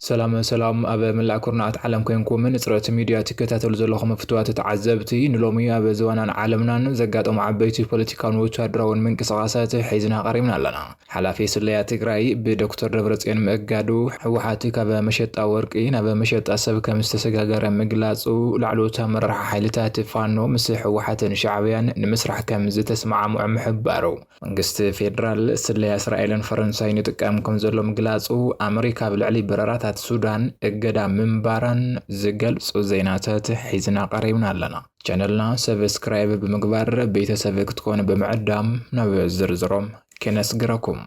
ሰላም ሰላም ኣብ መላእ ኩርናዓት ዓለም ኮንኩም ንፅረት ሚድያ ትከታተሉ ዘለኹም ፍትዋት ተዓዘብቲ ንሎሚ ኣብ ዝዋናን ዓለምናን ዘጋጠሙ ዓበይቲ ፖለቲካውን ወታደራውን ምንቅስቓሳት ሒዝና ቀሪብና ኣለና ሓላፊ ስለያ ትግራይ ብዶክተር ደብረፅዮን ምእጋዱ ህወሓት ካብ መሸጣ ወርቂ ናብ መሸጣ ሰብ ከምዝተሰጋገረ ምግላፁ ላዕለዎት ኣመራርሓ ሓይልታት ፋኖ ምስ ህወሓትን ሻዕብያን ንምስራሕ ከምዝተስማዕምዑ ምሕባሩ መንግስቲ ፌደራል ስለያ እስራኤልን ፈረንሳይን ይጥቀም ከምዘሎ ምግላፁ ኣመሪካ ኣብ ልዕሊ በረራታት ሱዳን እገዳ ምንባራን ዝገልፁ ዜናታት ሒዝና ቀሪብና ኣለና። ቻነልና ሰብስክራይብ ብምግባር ቤተሰብ ክትኮኑ ብምዕዳም ናብ ዝርዝሮም ክነስግረኩም።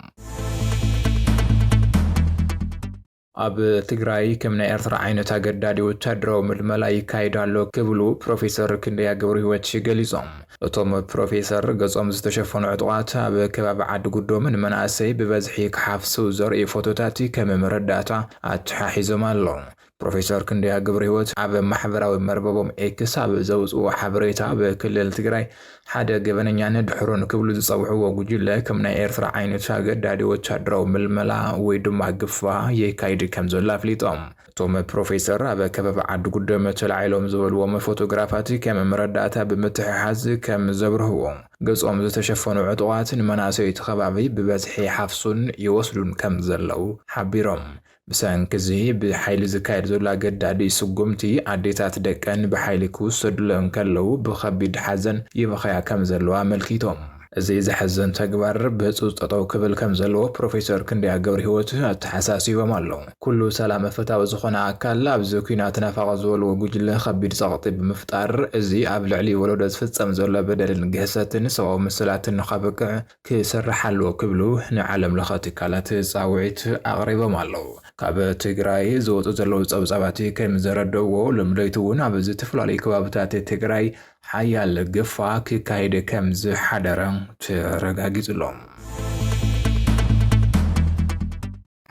ኣብ ትግራይ ከም ናይ ኤርትራ ዓይነት ኣገዳዲ ወታደራዊ ምልመላ ይካየድ ኣሎ ክብሉ ፕሮፌሰር ክንደያ ገብርሂወት ገሊፆም። እቶም ፕሮፌሰር ገፆም ዝተሸፈኑ ዕጡቓት ኣብ ከባቢ ዓዲ ጉዶም ንመናእሰይ ብበዝሒ ክሓፍሱ ዘርእዩ ፎቶታት ከም መረዳእታ ኣተሓሒዞም ኣለው። ፕሮፌሰር ክንደያ ገብረህይወት ኣብ ማሕበራዊ መርበቦም ኤክስ ኣብ ዘውፅዎ ሓበሬታ ብክልል ትግራይ ሓደ ገበነኛን ድሑርን ክብሉ ዝፀውዕዎ ጉጅለ ከም ናይ ኤርትራ ዓይነት ኣገዳዲ ወታደራዊ ምልመላ ወይ ድማ ግፋ የካይድ ከምዘሎ ኣፍሊጦም። እቶም ፕሮፌሰር ኣብ ከበባ ዓዲ ጉደም ተላዒሎም ዝበልዎም ፎቶግራፋት ከም መረዳእታ ብምትሕሓዝ ከም ዘብርህዎ፣ ገፆም ዝተሸፈኑ ዕጡቓት ንመናእሰይ እቲ ከባቢ ብበዝሒ ይሓፍሱን ይወስዱን ከም ዘለው ሓቢሮም። ብሰንኪ'ዚ ብሓይሊ ዝካየድ ዘሎ ኣገዳዲ ስጉምቲ፣ ኣዴታት ደቀን ብሓይሊ ክውሰዱለን እንከለዉ ብኸቢድ ሓዘን ይበኽያ ከምዘለዋ ኣመልኪቶም። እዚ ዘሕዝን ተግባር ብህጹጽ ጠጠው ክብል ከምዘለዎ ፕሮፌሰር ክንደያ ገብርሂወት ኣተሓሳሲቦም ኣለው። ኩሉ ሰላመ ፈታዊ ዝኾነ ኣካል ኣብዚ ኲናት ናፋቒ ዝበልዎ ጉጅለ ከቢድ ጸቕጢ ብምፍጣር እዚ ኣብ ልዕሊ ወለዶ ዝፍጸም ዘሎ በደልን ግህሰትን ሰብኣዊ መሰላትን ንኸብቅዕ ክስራሕ ኣለዎ ክብሉ ንዓለም ለኸ ትካላት ፃውዒት ኣቕሪቦም ኣለው። ካብ ትግራይ ዝወፁ ዘለው ፀብፃባት ከምዘረድእዎ ሎሚ ለይቲ እውን ኣብ ዝተፈላለዩ ከባብታት ትግራይ ሓያል ግፋ ክካየድ ከምዝሓደረ ተረጋጊፁ ኣሎ።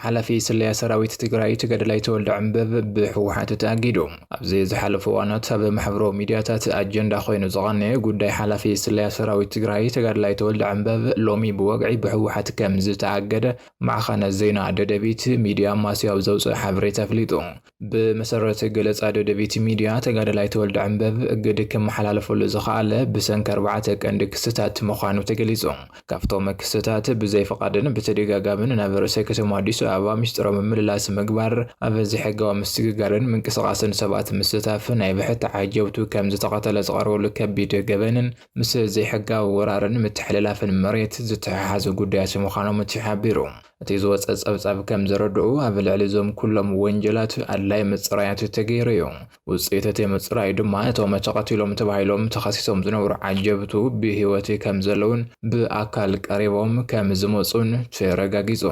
ሓላፊ ስለያ ሰራዊት ትግራይ ተጋዳላይ ተወልደ ዕምበብ ብህወሓት ተኣጊዱ። ኣብዚ ዝሓለፉ እዋናት ኣብ ማሕበራዊ ሚድያታት ኣጀንዳ ኮይኑ ዝቐነየ ጉዳይ ሓላፊ ስለያ ሰራዊት ትግራይ ተጋዳላይ ተወልደ ዕምበብ ሎሚ ብወግዒ ብህወሓት ከምዝተኣገደ ማዕኸን ዜና ደደቢት ሚድያ ኣማስያ ኣብ ዘውፅኦ ሓበሬታ ኣፍሊጡ። ብመሰረት ገለፃ ደደቢት ሚድያ ተጋዳላይ ተወልደ ዕምበብ እግድ ክመሓላለፈሉ ዝኸኣለ ብሰንኪ ኣርባዕተ ቀንዲ ክስታት ምዃኑ ተገሊፁ። ካብቶም ክስታት ብዘይፍቓድን ብተደጋጋምን ናብ ርእሰ ከተማ ኣዲስ ኣበባ ሚስጥራዊ ምምልላስ ምግባር፣ ኣብ ዘይሕጋዊ ምስግጋርን ምንቅስቓስን ሰባት ምስታፍ፣ ናይ ብሕቲ ዓጀብቱ ከምዝተቐተለ ዝቐርበሉ ከቢድ ገበንን ምስ ዘይሕጋዊ ወራርን ምትሕልላፍን መሬት ዝተሓሓዙ ጉዳያት ምዃኖም ተሓቢሩ። እቲ ዝወጸ ጸብጻብ ከም ዘረድኦ፣ ኣብ ልዕሊ እዞም ኩሎም ወንጀላት ኣድላዪ ምጽራያት ተገይሩ እዩ። ውጽኢት እቲ ምጽራይ ድማ እቶም ተቐቲሎም ተባሂሎም ተኸሲሶም ዝነበሩ ዓጀብቱ ብህይወት ከም ዘለዉን ብኣካል ቀሪቦም ከም ዝመጹን ተረጋጊጹ።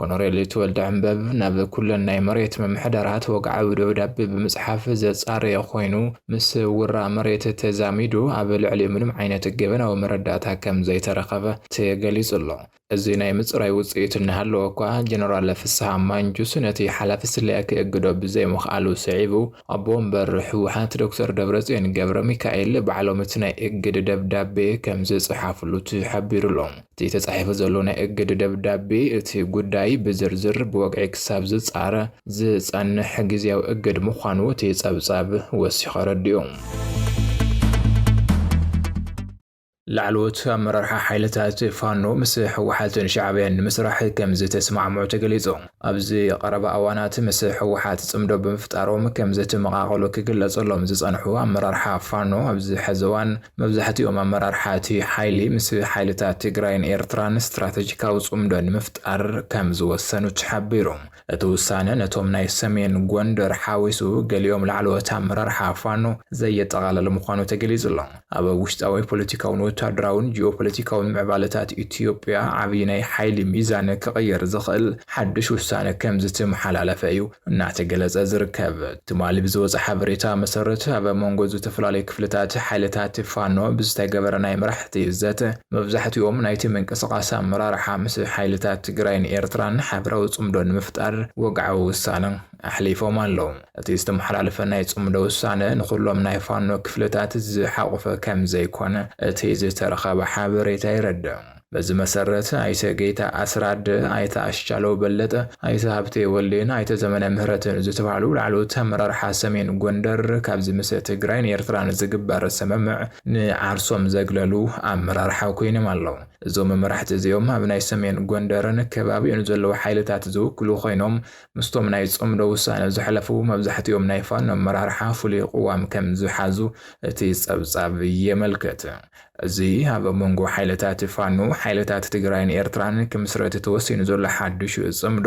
ኮነሬል ተወልደዐንበብ ናብ ኩለን ናይ መሬት ምምሕዳራት ወግዓዊ ደብዳቤ ብምጽሓፍ ዘጻረየ ኮይኑ፣ ምስ ውራ መሬት ተዛሚዱ ኣብ ልዕሊኡ ምንም ዓይነት ገበናዊ መረዳእታ ከም ዘይተረኸበ ተገሊጹ ኣሎ። እዚ ናይ ምጽራይ ውጽኢት እናሃለወኳ፣ ጀነራል ፍስሃ ማንጁስ ነቲ ሓላፊ ስለያ ክእግዶ ብዘይምኽኣሉ ስዒቡ፣ ኣቦ ወንበር ህወሓት ዶክተር ደብረጽዮን ገብረሚካኤል ባዕሎም እቲ ናይ እግድ ደብዳቤ ከም ዝጸሓፍሉ ተሓቢሩ'ሎ። እቲ ተጻሒፉ ዘሎ ናይ እግድ ደብዳቤ፣ እቲ ጉዳይ ብዝርዝር ብወግዒ ክሳብ ዝጻረ ዝጸንሕ ግዝያዊ እግድ ምዃኑ እቲ ጸብጻብ ወሲኹ ኣረዲኡ። ላዕለዎት ኣመራርሓ ሓይልታት ፋኖ ምስ ህወሓትን ሻዕብያን ንምስራሕ ከምዝተስማዕምዑ ተገሊፁ። ኣብዚ ቐረባ እዋናት ምስ ህወሓት ፅምዶ ብምፍጣሮም ከምዝተመቓቐሉ ክግለፀሎም ዝፀንሑ ኣመራርሓ ፋኖ ኣብዚ ሐዚ እዋን መብዛሕቲኦም ኣመራርሓ እቲ ሓይሊ ምስ ሓይልታት ትግራይን ኤርትራን ስትራተጂካዊ ፅምዶ ንምፍጣር ከምዝወሰኑ ተሓቢሩ። እቲ ውሳነ ነቶም ናይ ሰሜን ጎንደር ሓዊሱ ገሊኦም ላዕለዎት ኣመራርሓ ፋኖ ዘየጠቓለለ ምዃኑ ተገሊፁ ኣሎ። ኣብ ውሽጣዊ ፖለቲካውን ወታደራውን ጂኦፖለቲካውን ምዕባለታት ኢትዮጵያ ዓብዪ ናይ ሓይሊ ሚዛን ክቕይር ዝኽእል ሓዱሽ ውሳነ ከምዝተመሓላለፈ እዩ እናተገለፀ ዝርከብ። ትማሊ ብዝወፀ ሓበሬታ መሰረት ኣብ መንጎ ዝተፈላለዩ ክፍልታት ሓይልታት ፋኖ ብዝተገበረ ናይ መራሕቲ ዘተ፣ መብዛሕቲኦም ናይቲ ምንቅስቓስ ኣመራርሓ ምስ ሓይልታት ትግራይን ኤርትራን ሓበራዊ ጽምዶ ንምፍጣር ወግዓዊ ውሳነ ኣሕሊፎም ኣለዉ። እቲ ዝተመሓላለፈ ናይ ጽምዶ ውሳነ ንኹሎም ናይ ፋኖ ክፍልታት ዝሓቖፈ ከምዘይኮነ እቲ ዝተረኸበ ሓበሬታ የረድእ። በዚ መሰረት ኣይተ ጌታ ኣስራድ፣ ኣይተ ኣስቻለው በለጠ፣ ኣይተ ሃብቴ ወልዴን ኣይተ ዘመነ ምህረትን ዝተባህሉ ላዕለዎት ኣመራርሓ ሰሜን ጎንደር ካብዚ ምስ ትግራይን ኤርትራን ዝግበር ስምምዕ ንዓርሶም ዘግለሉ ኣመራርሓ ኮይኖም ኣለው። እዞም መራሕቲ እዚኦም ኣብ ናይ ሰሜን ጎንደርን ከባቢኡን ዘለው ሓይልታት ዝውክሉ ኮይኖም ምስቶም ናይ ፅምዶ ውሳነ ዘሕለፉ መብዛሕቲኦም ናይ ፋኖ ኣመራርሓ ፍሉይ ቕዋም ከም ዝሓዙ እቲ ፀብፃብ የመልክት። እዚ ኣብ መንጎ ሓይልታት ፋኖ፣ ሓይልታት ትግራይን ኤርትራን ክምስረት ተወሲኑ ዘሎ ሓዱሽ ፅምዶ፣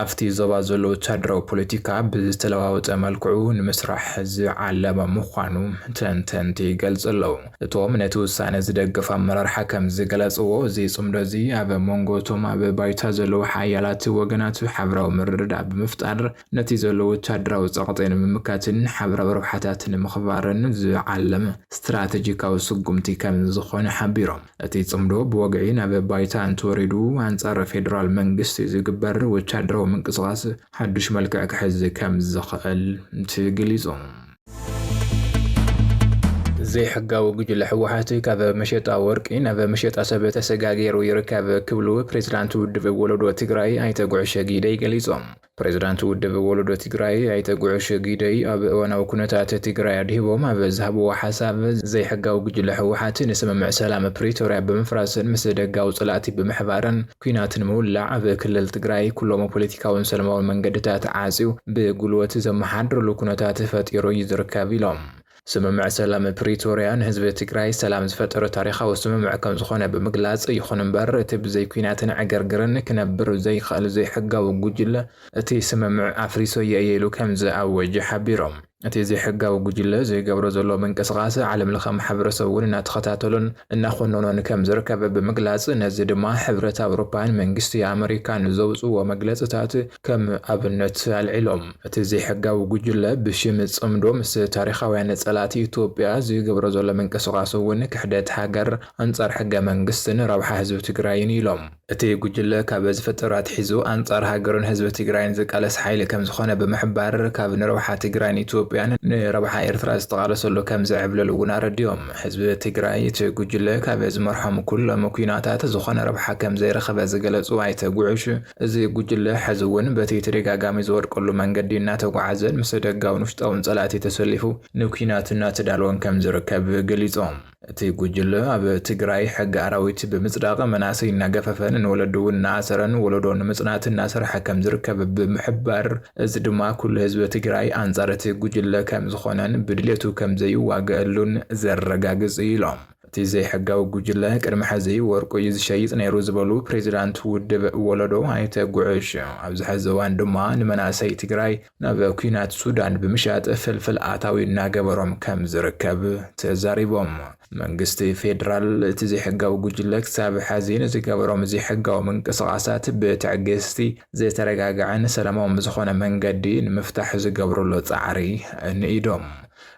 ኣብቲ ዞባ ዘሎ ወተሃደራዊ ፖለቲካ ብዝተለዋወጠ መልክዑ ንምስራሕ ዝዓለመ ምዃኑ ተንተንቲ ይገልጹ ኣለዉ። እቶም ነቲ ውሳነ ዝደገፉ ኣመራርሓ ከም ዝገለጽዎ፣ እዚ ጽምዶ እዚ ኣብ መንጎ እቶም ኣብ ባይታ ዘለዉ ሓያላት ወገናት ሓበራዊ ምርድዳእ ብምፍጣር ነቲ ዘሎ ወተሃደራዊ ጸቕጢ ንምምካትን ሓበራዊ ረብሓታት ንምኽባርን ዝዓለመ ስትራተጂካዊ ስጉምቲ ከም ዝኾነ ሓቢሮም። እቲ ጽምዶ ብወግዒ ናብ ባይታ እንተወሪዱ ኣንጻር ፌደራል መንግስቲ ዝግበር ወተሃደራዊ ምንቅስቓስ ሓዱሽ መልክዕ ክሕዝ ከምዝኽእል ተገሊጹ። ዘይሕጋዊ ጉጅለ ህወሓት ካብ መሸጣ ወርቂ ናብ መሸጣ ሰብ ተሰጋጊሩ ይርከብ ክብሉ ፕሬዚዳንት ውድብ ወለዶ ትግራይ ኣይተ ጉዕሸ ጊደይ ገሊፆም። ፕሬዝዳንት ውድብ ወለዶ ትግራይ ኣይተ ጉዑሽ ጊደይ ኣብ እዋናዊ ኩነታት ትግራይ ኣድሂቦም ኣብ ዝሃብዎ ሓሳብ፣ ዘይሕጋዊ ጉጅለ ህወሓት ንስምምዕ ሰላም ፕሪቶርያ ብምፍራስን ምስ ደጋዊ ፀላእቲ ብምሕባርን ኲናት ንምውላዕ ኣብ ክልል ትግራይ ኩሎሞ ፖለቲካዊን ሰለማዊን መንገድታት ዓፅዩ ብጉልበት ዘመሓድረሉ ኩነታት ፈጢሩ እዩ ዝርከብ ኢሎም። ስምምዕ ሰላም ፕሪቶርያ ንህዝቢ ትግራይ ሰላም ዝፈጠረ ታሪኻዊ ስምምዕ ከምዝኾነ ብምግላፅ፣ ይኹን እምበር እቲ ብዘይ ኲናትን ዕግርግርን ክነብር ዘይኽእል ዘይሕጋዊ ጉጅለ እቲ ስምምዕ ኣፍሪሰዮ እየ ኢሉ ከምዝኣወጀ ሓቢሮም። እቲ ዘይሕጋዊ ጉጅለ ዝገብሮ ዘሎ ምንቅስቓስ ዓለምለኸ ማሕበረሰብ እውን እናተኸታተሎን እናኾነኖን ከምዝርከብ ብምግላፅ፣ ነዚ ድማ ሕብረት ኣውሮፓን መንግስቲ ኣመሪካን ዘውፅእዎ መግለፅታት ከም ኣብነት ኣልዒሎም፣ እቲ ዘይሕጋዊ ጉጅለ ብሽም ጽምዶ ምስ ታሪኻውያን ጸላእቲ ኢትዮጵያ ዝገብሮ ዘሎ ምንቅስቓስ እውን ክሕደት ሃገር፣ ኣንጻር ሕገ መንግስትን ረብሓ ህዝቢ ትግራይን እዩ ኢሎም። እቲ ጉጅለ ካብ ዝፍጠር ኣትሒዙ ኣንጻር ሃገሩን ህዝቢ ትግራይን ዝቃለስ ሓይሊ ከም ዝኾነ ብምሕባር፣ ካብ ንረብሓ ትግራይን ኢትዮጵያን ንረብሓ ኤርትራ ዝተቓለሰሉ ከም ዝዕብለል እውን ኣረዲኦም። ህዝቢ ትግራይ እቲ ጉጅለ ካብ ዝመርሖም ኩሎም ኲናታት ዝኾነ ረብሓ ከም ዘይረኸበ ዝገለጹ ኣይተ ጉዑሽ፣ እዚ ጉጅለ ሕዚ እውን በቲ ተደጋጋሚ ዝወድቀሉ መንገዲ እናተጓዓዘን ምስ ደጋውን ውሽጣውን ፀላእቲ ተሰሊፉ ንኲናት እናተዳለወን ከምዝርከብ ገሊፆም። እቲ ጉጅለ ኣብ ትግራይ ሕጊ ኣራዊት ብምፅዳቕ መናእሰይ እናገፈፈን ንወለዲ እውን እናኣሰረን ወለዶ ንምፅናት እናሰርሐ ከምዝርከብ ብምሕባር እዚ ድማ ኩሉ ህዝቢ ትግራይ ኣንፃር እቲ ጉጅለ ከምዝኾነን ብድሌቱ ከምዘይዋገኣሉን ዘረጋግፅ እዩ ኢሎም። እቲ ዘይሕጋዊ ጉጅለ ቅድሚ ሕዚ ወርቁ እዩ ዝሸይጥ ነይሩ ዝበሉ ፕሬዚዳንት ውድብ ወለዶ ኣይተ ጉዕሽ ኣብዚ ሕዚ እዋን ድማ ንመናእሰይ ትግራይ ናብ ኩናት ሱዳን ብምሻጥ ፍልፍል ኣታዊ እናገበሮም ከም ዝርከብ ተዛሪቦም። መንግስቲ ፌዴራል እቲ ዘይሕጋዊ ጉጅለ ክሳብ ሕዚ ንዝገበሮም ዘይሕጋዊ ምንቅስቓሳት ብትዕግስቲ ዝተረጋገዐን ሰላማዊ ብዝኾነ መንገዲ ንምፍታሕ ዝገብርሉ ፃዕሪ ንኢዶም።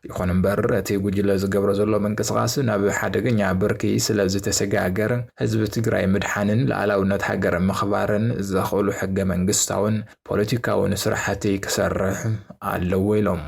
ይኹን እምበር እቲ ጉጅለ ዝገብሮ ዘሎ ምንቅስቓስ ናብ ሓደገኛ ብርኪ ስለ ዝተሰጋገር ህዝቢ ትግራይ ምድሓንን ልኣላውነት ሃገር ምኽባርን ዘኽእሉ ሕገ መንግስታውን ፖለቲካውን ስራሕቲ ክሰርሕ ኣለዎ ኢሎም።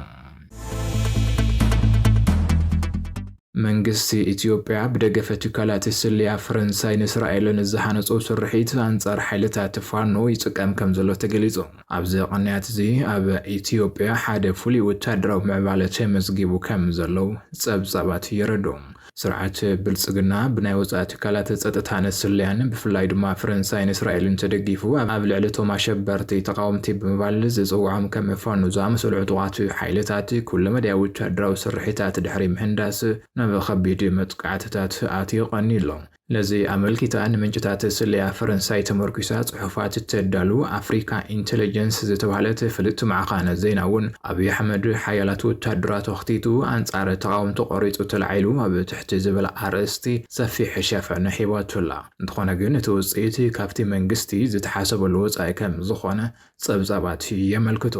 መንግስቲ ኢትዮጵያ ብደገፈ ትካላት ስለያ ፈረንሳይን እስራኤልን ዝሃነፆ ስርሒት ኣንፃር ሓይልታት ፋኖ ይፅቀም ከም ዘሎ ተገሊፁ። ኣብዚ ቕንያት'ዚ ኣብ ኢትዮጵያ ሓደ ፍሉይ ወተሃደራዊ ምዕባለ ተመዝጊቡ ከም ዘሎው ጸብጻባት የረድኡ። ስርዓት ብልጽግና ብናይ ወጻኢ ትካላት ጸጥታን ስለያን ብፍላይ ድማ ፈረንሳይን እስራኤልን ተደጊፉ ኣብ ልዕሊ እቶም ኣሸበርቲ ተቓወምቲ ብምባል ዝጽውዖም ከም ፋኖ ዝኣመሰሉ ዕጡቓት ሓይልታት ኩለመዳያዊ ወተሃደራዊ ስርሒታት ድሕሪ ምህንዳስ ናብ ኸቢድ መጥቃዕትታት ኣትዩ ቐንዩ ኣሎ። ነዚ ኣመልኪታ ንምንጭታት ስለያ ፈረንሳይ ተመርኲሳ ጽሑፋት እተዳሉ ኣፍሪካ ኢንተለጀንስ ዝተባህለት ፍልጥቲ ማዕኸን ዜና'ውን፣ ኣብይ ኣሕመድ ሓያላት ወተሃደራቱ ኣኽቲቱ ኣንጻር ተቓወምቲ ቆሪጹ ተላዒሉ ኣብ ትሕቲ ዝብል ኣርእስቲ ሰፊሕ ሸፈነ ሂባቶ ኣላ። እንተኾነ ግን እቲ ውጽኢት ካብቲ መንግስቲ ዝተሓሰበሉ ወጻኢ ከምዝኾነ ጸብጻባት የመልክቱ።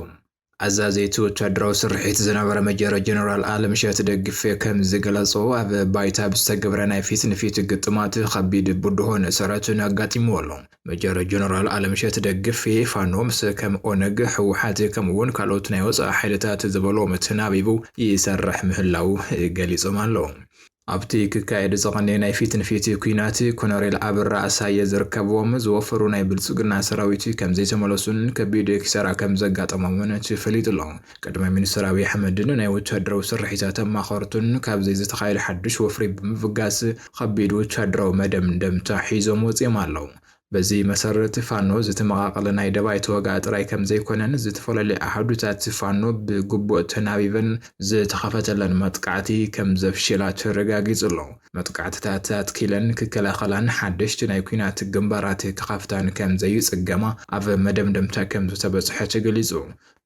ኣዛዚ እቲ ወታደራዊ ስርሒት ዝነበረ መጀር ጀነራል ኣለምሸት ደግፌ ከም ዝገለጾ ኣብ ባይታ ብዝተገብረ ናይ ፊት ንፊት ግጥማት ከቢድ ብድሆን ሰረትን ኣጋጢምዎ ኣሎ። መጀር ጀነራል ኣለምሸት ደግፌ ፋኖ ምስ ከም ኦነግ፣ ህወሓት ከምኡ እውን ካልኦት ናይ ወፃኢ ሓይልታት ዝበሎም ተናቢቡ ይሰርሕ ምህላዉ ገሊፆም ኣለዉ። ኣብቲ ክካየድ ዝቐነየ ናይ ፊት ንፊት ኲናት ኮነሬል ኣብራ ኣሳየ ዝርከብዎም ዝወፈሩ ናይ ብልፅግና ሰራዊት ከምዘይተመለሱን ከቢድ ኪሳራ ከምዘጋጠሞምን ተፈሊጡ'ሎ። ቀዳማይ ሚኒስትር ኣብይ ኣሕመድን ናይ ወታደራዊ ስርሒታት ኣማኸርቱን ካብዚ ዝተኻየደ ሓዱሽ ወፍሪ ብምብጋስ ኸቢድ ወታደራዊ መደምደምታ ሒዞም ወፂኦም ኣለው። በዚ መሰረት ፋኖ ዝተመቓቐለ ናይ ደባይ ተወጋኢ ጥራይ ከምዘይኮነን ዝተፈላለየ ኣሃዱታት ፋኖ ብግቡእ ተናቢበን ዝተኸፈተለን መጥቃዕቲ ከምዘፍሽላ ተረጋጊፁ ኣሎ። መጥቃዕትታት ኣትኪለን ክከላኸላን ሓደሽቲ ናይ ኲናት ግንባራት ክኸፍታን ከምዘይፅገማ ኣብ መደምደምታ ከምዝተበፅሐ ተገሊፁ።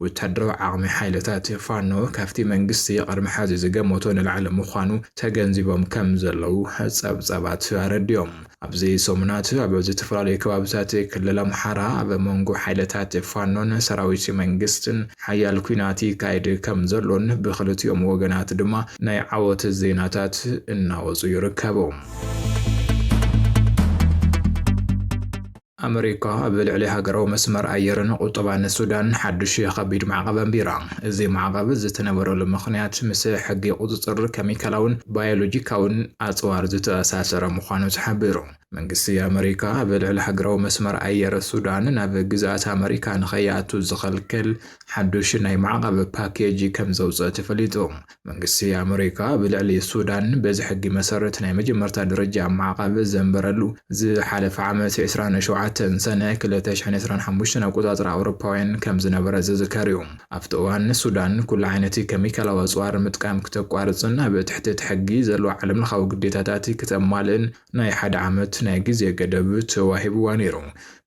ወታደራዊ ዓቕሚ ሓይልታት ፋኖ ካብቲ መንግስቲ ቅድሚ ሐዚ ዝገመቶ ንላዕሊ ምዃኑ ተገንዚቦም ከምዘለዉ ፀብፃባት ኣረዲኦም። ኣብዚ ሰሙናት ኣብ ዝተፈላለዩ ከባብታት ክልል ኣምሓራ ኣብ መንጎ ሓይልታት ፋኖን ሰራዊት መንግስትን ሓያል ኲናት ይካየድ ከምዘሎን ብኽልቲኦም ወገናት ድማ ናይ ዓወት ዜናታት እናወፁ ይርከቡ። ኣመሪካ ኣብ ልዕሊ ሃገራዊ መስመር ኣየርን ቁጠባን ሱዳን ሓድሽ ከቢድ ማዕቐብ ኣንቢራ። እዚ ማዕቐብ ዝተነበረሉ ምኽንያት ምስ ሕጊ ቁጽጽር ከሚካላውን ባዮሎጂካውን ኣጽዋር ዝተኣሳሰረ ምዃኑ ተሓቢሩ። መንግስቲ ኣመሪካ ኣብ ልዕሊ ሃገራዊ መስመር ኣየር ሱዳን ናብ ግዝኣት ኣመሪካ ንኸይኣቱ ዝኸልክል ሓዱሽ ናይ ማዕቐብ ፓኬጅ ከምዘውጽእ ተፈሊጡ። መንግስቲ ኣመሪካ ብልዕሊ ሱዳን በዚ ሕጊ መሰረት ናይ መጀመርታ ደረጃ ማዕቐብ ዘንበረሉ፣ ዝሓለፈ ዓመት ዕስራን ሸውዓተን ሰነ ክልተ ሽሕን ዕስራን ሓሙሽተን ኣቆጻጽራ ኣውሮፓውያን ከም ዝነበረ ዝዝከር እዩ። ኣብቲ እዋን ሱዳን ኩሉ ዓይነት ከሚካላዊ ኣጽዋር ምጥቃም ክተቋርጽን ኣብ ትሕቲ እቲ ሕጊ ዘለዋ ዓለምለኻዊ ግዴታታት ክተማልእን ናይ ሓደ ዓመት ናይ ግዜ ገደብ ተዋሂብዋ ነይሩ።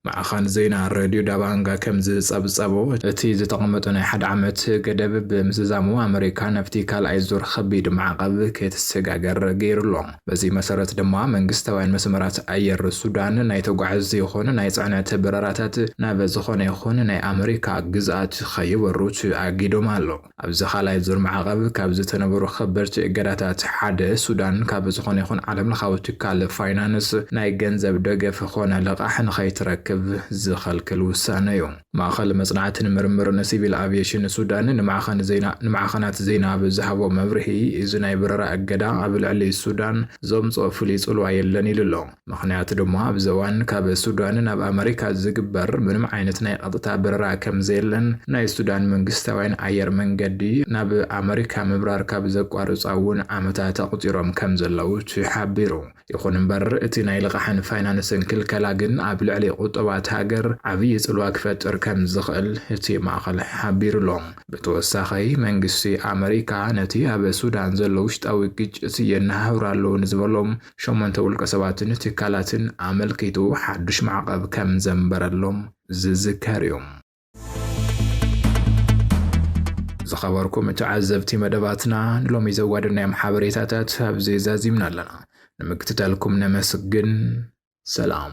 ማዕኸን ዜና ረድዮ ዳባንጋ ከም ዝጸብጸቦ፣ እቲ ዝተቐመጠ ናይ ሓደ ዓመት ገደብ ብምዝዛሙ ኣመሪካ ናብቲ ካልኣይ ዙር ኸቢድ ማዕቐብ ክትሰጋገር ገይሩ'ሎ። በዚ መሰረት ድማ መንግስታውያን መስመራት ኣየር ሱዳን ናይ ተጓዓዝቲ ይኹን ናይ ጽዕነት በረራታት ናብ ዝኾነ ይኹን ናይ ኣመሪካ ግዝኣት ኸይበሩ ተኣጊዶም ኣለዉ። ኣብዚ ካልኣይ ዙር ማዕቐብ ካብ ዝተነበሩ ከበድቲ እገዳታት ሓደ፣ ሱዳን ካብ ዝኾነ ይኹን ዓለምለኻዊ ትካል ፋይናንስ ናይ ገንዘብ ደገፍ ኾነ ልቓሕ ንኸይትረክብ ዝኸልክል ውሳነ ዩ። ማእኸል መፅናዕትን ምርምርን ሲቪል ኣቪዬሽን ሱዳን ንማዕኸን ዜና ንማዕኸናት ዜና ኣብ ዝሃቦ መብርሂ፣ እዚ ናይ በረራ እገዳ ኣብ ልዕሊ ሱዳን ዘምፅኦ ፍሉይ ፅልዋ የለን ኢሉ ኣሎ። ምኽንያቱ ድማ ኣብዚ እዋን ካብ ሱዳን ናብ ኣመሪካ ዝግበር ምንም ዓይነት ናይ ቐጥታ በረራ ከምዘየለን ናይ ሱዳን መንግስታውያን ኣየር መንገዲ ናብ ኣመሪካ ምብራር ካብ ዘቋርጻ እውን ዓመታት ኣቑጺሮም ከምዘለዉ ተሓቢሩ። ይኹን እምበር እቲ ናይ ልቓሕን ፋይናንስን ክልከላ ግን ኣብ ልዕሊ ቑጠባት ሃገር ዓብዪ ጽልዋ ክፈጥር ከምዝኽእል እቲ ማእኸል ሓቢሩ ኣሎ። ብተወሳኺ መንግስቲ ኣመሪካ ነቲ ኣብ ሱዳን ዘሎ ውሽጣዊ ግጭት የነሃህሩ ኣለዉ ንዝበሎ ሸሞንተ ውልቀሰባትን ትካላትን ኣመልኪቱ ሓዱሽ ማዕቐብ ከም ዘንበረሎም ዝዝከር እዩ። ዝኸበርኩም ተዓዘብቲ መደባትና ንሎሚ ዘዋደናዮም ሓበሬታታት ኣብዚ ዛዚምና ኣለና። ንምክትታልኩም ነመስግን። ሰላም